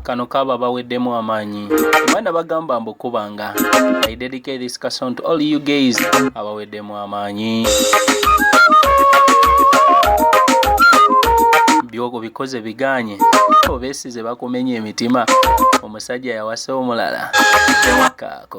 kano kaba baweddemu amaanyi mwana bagamba mbu kubanga i dedicate this song to all you guys abaweddemu amaanyi byogo bikoze biganye obesize bakumenya emitima omusajja yawasa omulala kaako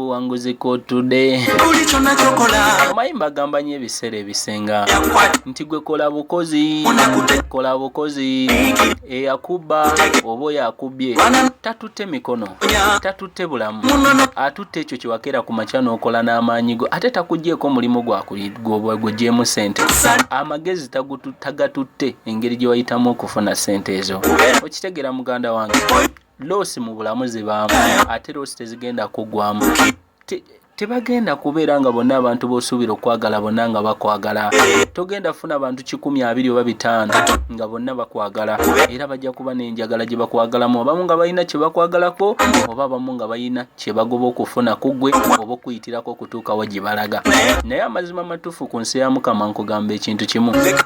buwanguzi kotudde omanyi mbagamba nyo ebiseera ebisinga nti gwe kola bukozi kola bukozi eyakuba oba oyo akubye tatutte mikono tatutte bulamu atutte ekyo kyewakeera ku makya n'okola n'amaanyi go ate takugyeko omulimu gwegwegyemu sente amagezi tagatutte engeri gye wayitamu okufuna sente ezo okitegeera muganda wange loosi mu bulamu zibaamu ate loosi tezigenda kuggwamu tebagenda kubeera nga bonna abantu b'osuubira okwagala bonna nga bakwagala togenda funa bantu kikumi abiri oba bitaano nga bonna bakwagala era bajja kuba n'enjagala gye bakwagalamu abamu nga balina kye bakwagalako oba abamu nga balina kye bagoba okufuna ku ggwe oba okuyitirako okutuukawo gye balaga naye amazima matuufu ku nsi ya mukama nkugamba ekintu kimu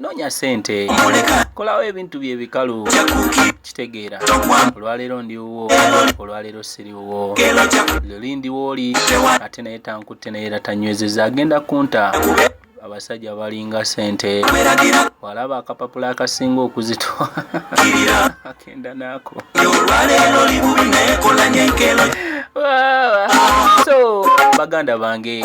noonya sente kolawo ebintu bye bikalu kitegeera olwaleero ndi wuwo olwaleero siri wuwo luli ndi wooli ate naye tankutte naye era tanywezeza agenda kunta abasajja balinga sente walaba akapapula akasinga okuzitwa agenda naako so baganda bange